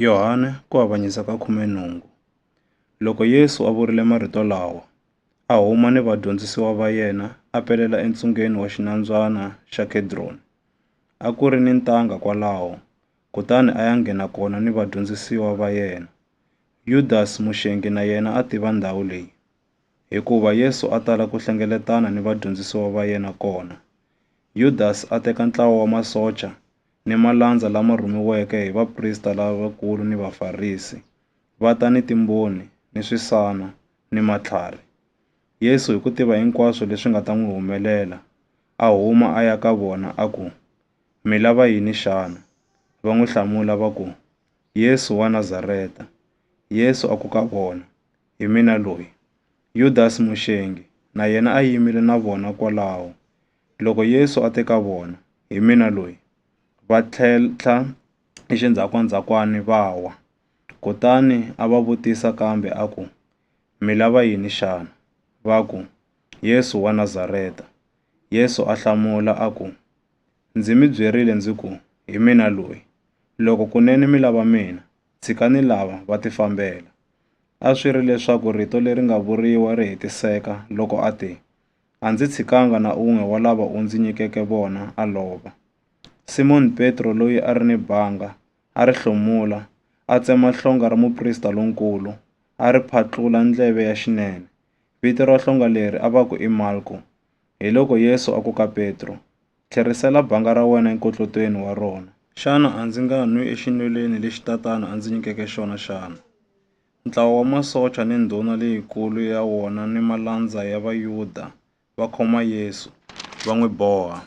Yohane ku avanyisa ka khume nhungu. Loko Yesu a vurile marito lawa, a huma ni vadyondzisiwa va yena a pelela entsungeni wa xinambyana xa Kedroni. A ku ri ni ntanga kwalaho, kutani a ya nghena kona ni vadyondzisiwa va yena. Yudas muxengi na yena a tiva ndhawu leyi, hikuva Yesu a tala ku hlengeletana ni vadyondzisiwa va yena kona. Yudas a teka ntlawa wa masocha ni malandza lama rhumiweke hi vaprista lavakulu ni Vafarisi, va ta ni timboni, ni swisana, ni matlhari. Yesu, hi ku tiva hinkwaswo leswi nga ta n'wi humelela, a huma a ya ka vona, a ku, Mi lava yini xana? Va n'wi hlamula va ku, Yesu wa Nazareta. Yesu a ku ka vona, Hi mina loyi. Yudasi muxengi na yena a yimile na vona kwalaho. Loko Yesu a te ka vona, Hi mina loyi, va tlhentlha exindzhakandzhakwana va wa. Kutani a va vutisa kambe a ku, Mi lava yini xana? Va ku, Yesu wa Nazareta. Yesu a hlamula a ku, Ndzi mi byerile ndzi ku, Hi mina loyi. Loko kunene mi lava mina, tshikani lava va tifambela. A swi ri leswaku rito leri nga vuriwa ri hetiseka loko a te, A ndzi tshikanga na un'we wa lava u ndzi nyikeke vona a lova. Simoni Petro loyi a ri ni banga, a ri hlomula, a tsema hlonga ra muprista lonkulu, a ri phatlula ndleve ya xinene. Vito ra hlonga leri a va ku i Malko. Hiloko Yesu a ku ka Petro, Tlherisela banga ra wena enkotlotweni wa rona. Xana a ndzi nga nwi exinwelweni lexi Tatana a ndzi nyikeke xona xana? Ntlawa wa masocha ni ndhuna leyikulu ya wona ni malandza ya Vayuda va khoma Yesu, va n'wi boha,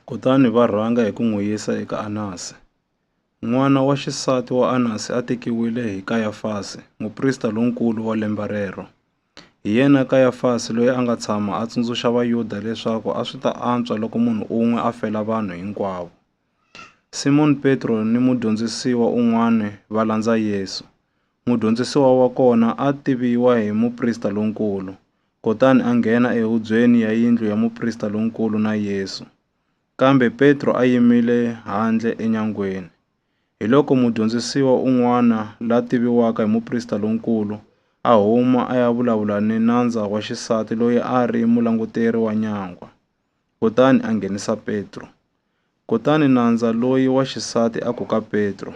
kutani va rhanga hi ku n'wi yisa eka Anasi. N'wana wa xisati wa Anasi a tekiwile hi Kayafasi, muprista lonkulu wa lembe rero. Hi yena Kayafasi loyi a nga tshama a tsundzuxa Vayuda leswaku a swi ta antswa loko munhu un'we a fela vanhu hinkwavo. Simoni Petro ni mudyondzisiwa un'wana va landza Yesu. Mudyondzisiwa wa kona a tiviwa hi muprista lonkulu, kutani a nghena ehubyeni ya yindlu ya muprista lonkulu na Yesu. Kambe Petro a yimile handle enyangweni. Hiloko mudyondzisiwa un'wana la tiviwaka hi muprista lonkulu a huma a ya vulavula ni nandza wa xisati loyi a ri mulanguteri wa nyangwa. kutani a nghenisa Petro. Kutani nandza loyi wa xisati a ku ka Petro,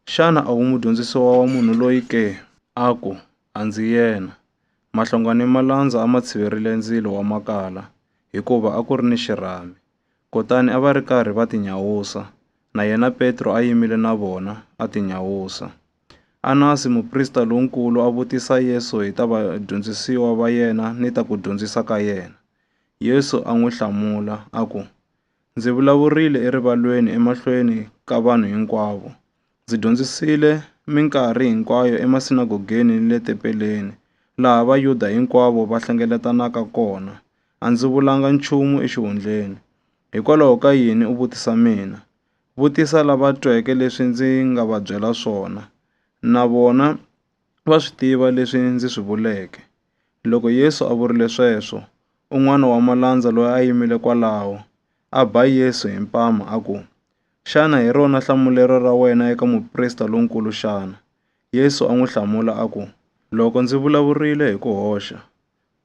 Xana a wu mudyondzisiwa wa munhu loyi ke? A ku, A ndzi yena. Mahlonga ni malandza a ma tshiverile ndzilo wa makala, hikuva a ku ri ni xirhami. Kutani a va ri karhi va tinyawusa, na yena Petro a yimile na vona, a tinyawusa. Anasi muprista lonkulu a vutisa Yesu hi ta vadyondzisiwa va yena ni ta ku dyondzisa ka yena. Yesu a n'wi hlamula a ku, Ndzi vulavurile erivalweni emahlweni ka vanhu hinkwavo. Ndzi dyondzisile minkarhi hinkwayo emasinagogeni ni le tempeleni, laha Vayuda hinkwavo va hlengeletanaka kona. A ndzi vulanga nchumu exihundleni. Hikwalaho ka yini u vutisa mina? Vutisa lava tweke leswi ndzi nga va byela swona. Na vona va swi tiva leswi ndzi swi vuleke. Loko Yesu a vurile sweswo, un'wana wa malandza loyi a yimile kwalaho, a ba Yesu hi mpama a ku, Xana hi rona hlamulelo ra wena eka muprista lonkulu xana? Yesu a n'wi hlamula a ku, Loko ndzi vulavurile hi ku hoxa,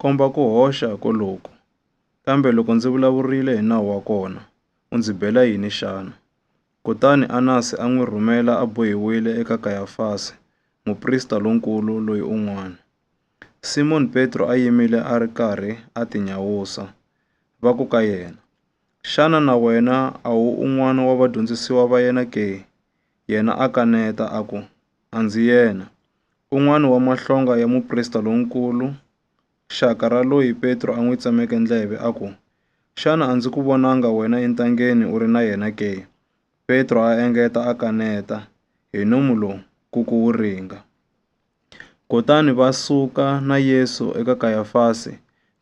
komba ku hoxa koloku. Kambe loko ndzi vulavurile hi nawu wa kona, u ndzi bela yini xana? Kutani Anasi a n'wi rhumela a bohiwile eka Kayafasi, muprista lonkulu loyi un'wana. Simoni Petro a yimile a ri karhi a tinyawusa, va ku ka yena, Xana na wena a wu un'wana wa vadyondzisiwa va yena ke? Yena a kaneta a ku, A ndzi yena. Un'wana wa mahlonga ya muprista lonkulu Xaka ra loyi Petro a n'wi tsemeke ndleve, a ku, Xana a ndzi ku vonanga wena entangeni u ri na yena ke? Petro a engeta a kaneta, Hi nomu lowu, ku ku wu ringa. Kutani va suka na Yesu eka Kayafasi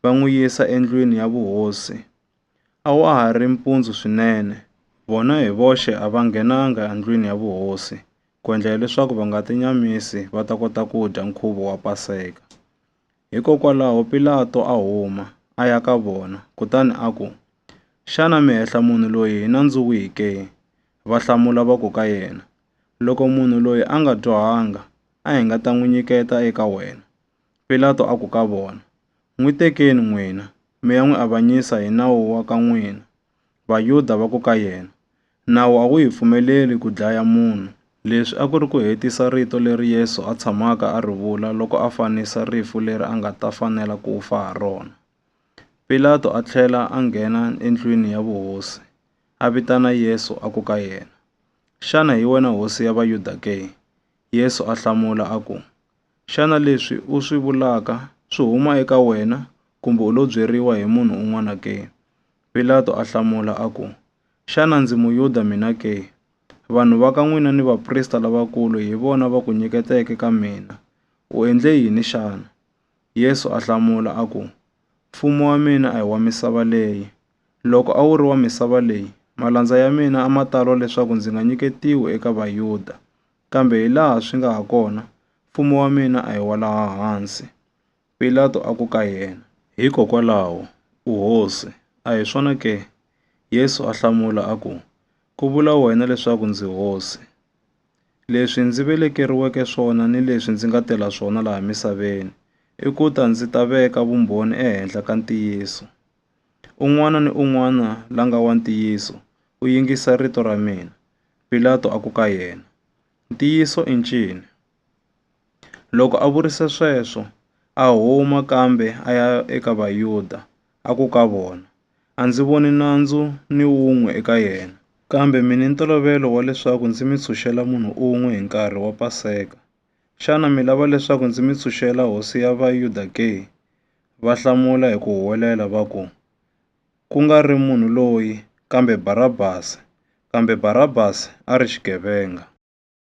va n'wi yisa endlwini ya vuhosi. A wa ha ri mpundzu swinene, vona hi voxe a va nghenanga endlwini ya vuhosi, ku endlela leswaku va nga tinyamisi va ta kota ku dya nkhuvo wa Paseka. Hikokwalaho Pilato a huma, a ya ka vona, kutani a ku, Xana mi hehla munhu loyi hi nandzu wihi ke? Va hlamula va ku ka yena, Loko munhu loyi a nga dyohanga, a hi nga ta n'wi nyiketa eka wena. Pilato a ku ka vona, N'wi tekeni n'wina, mi ya n'wi avanyisa hi nawu wa ka n'wina. Vayuda va ku ka yena, Nawu a wu hi pfumeleli ku dlaya munhu. Leswi a ku ri ku hetisa rito leri Yesu a tshamaka a ri vula loko a fanisa rifu leri a nga ta fanela ku fa ha rona. Pilato a tlhela a nghena endlwini ya vuhosi, a vitana Yesu a ku ka yena, Xana hi wena hosi ya Vayuda ke? Yesu a hlamula a ku, Xana leswi u swi vulaka swi huma eka wena kumbe u lo byeriwa hi munhu un'wana ke? Pilato a hlamula a ku, Xana ndzi Muyuda mina ke? Vanhu va ka n'wina ni vaprista lavakulu hi vona va ku nyiketeke ka mina. U endle yini xana? Yesu a hlamula a ku, Mfumo wa mina a hi wa misava leyi. Loko a wu ri wa misava leyi, malandza ya mina a ma ta lwa leswaku ndzi nga nyiketiwi eka Vayuda. Kambe hilaha swi nga hakona, mfumo wa mina a hi wa laha hansi. Pilato a ku ka yena, Hikokwalaho, u hosi, a hi swona ke? Yesu a hlamula a ku, Ku vula wena leswaku ndzi hosi. Leswi ndzi velekeriweke swona ni leswi ndzi nga tela swona laha misaveni i ku ta ndzi ta veka vumbhoni ehenhla ka ntiyiso. Un'wana ni un'wana la nga wa ntiyiso u yingisa rito ra mina. Pilato a ku ka yena, Ntiyiso i ncini? Loko a vurisa sweswo, a huma kambe a ya eka Vayuda, a ku ka vona, A ndzi voni nandzu ni wun'we eka yena. Kambe mi ni ntolovelo wa leswaku ndzi mi tshunxela munhu un'we hi nkarhi wa Paseka. Xana mi lava leswaku ndzi mi tshunxela Hosi ya Vayuda ke? Va hlamula hi ku huwelela va ku, Ku nga ri munhu loyi, kambe Barabasi! Kambe Barabasi a ri xigevenga.